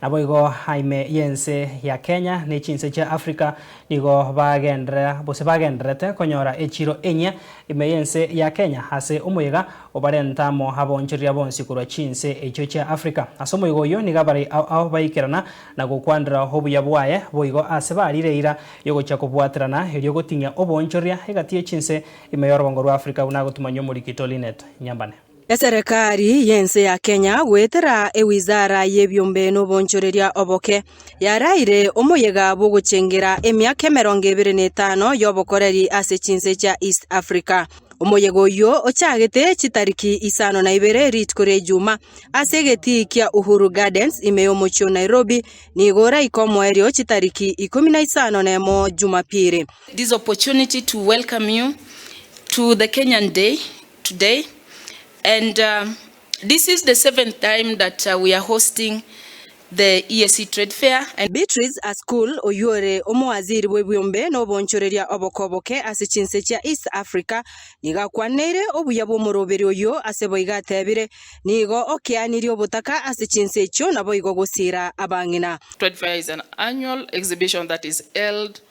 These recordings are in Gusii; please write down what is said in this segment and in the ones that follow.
Naboigo ime y'ense ya Kenya ne chinse chia Africa nigo bagenderera gose bagendererete konyora echiro enyia ime y'ense ya Kenya ase omoyega obarente amo abonchoreria bonsi korwa chinse echio chia Africa. Ase omoyega oyio nigo abarai ao ao baikerana na gokwanera obuya bwaye, boigo aase bariire eira y'ogochia kobwaterana erio goting'ia obonchoreria egati ye chinse ime y'orogongo rwa Africa buna agotumanywa omorikito Lynette Nyambane. Eserekari y'ense ya Kenya goetera ewizara y'ebiombe n'obonchoreria oboke, yaraeire omoyega bw'ogochengera emiaka emerongo ebere na etano y'obokoreri ase chinse chia East Africa. Omoyega oyio ochagete chitariki isano na ibere rituko ria Ijumaa ase egetii kia Uhuru Gardens ime y'omochie o Nairobi, nigo oraike omoerio chitariki ikomi na isano na emo Jumapili. this opportunity to welcome you to the Kenyan Day today and this is the seventh time that we are hosting the EAC trade fair and. Beatrice Ascool, oyio ore omowaziri bw'ebiombe na obonchoreria obokoboke ase chinse chia East Africa, nigo akwanineire obuya bw'omoroberi oyio ase boigo atebire, Nigo okeanirie obotaka ase chinse echio naboigo gosiira abang'ina. Trade fair is an annual exhibition that is held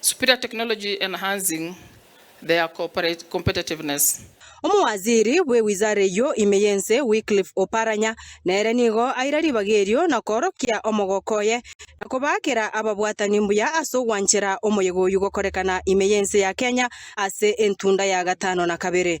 superior technology enhancing their cooperate competitiveness. Omowaziri bwe wizara eyio ime y'ense Wycliffe Oparanya nere nigo aira ribaga erio na koorokia omogoko oye na kobaakera ababwatani mbuya ase ogwanchera omoyega oyio gokorekana ime y'ense ya Kenya ase entunda ya gatano na kabere.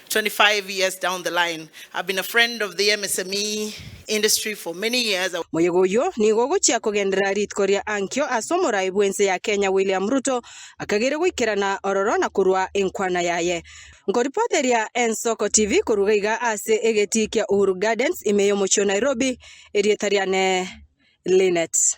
25 years down the line, I've been a friend of the MSME industry for many years. Moyega oyio nigo ogochia kogenderera rituko ria ankio ase omorai bw'ense ya Kenya William Ruto akageria goikerana ororo na korua enkwana yaye. Nkoripoteria Ensoko TV koruga iga ase egetii kia Uhuru Gardens ime y'omochio Nairobi, erieta riane Lynette.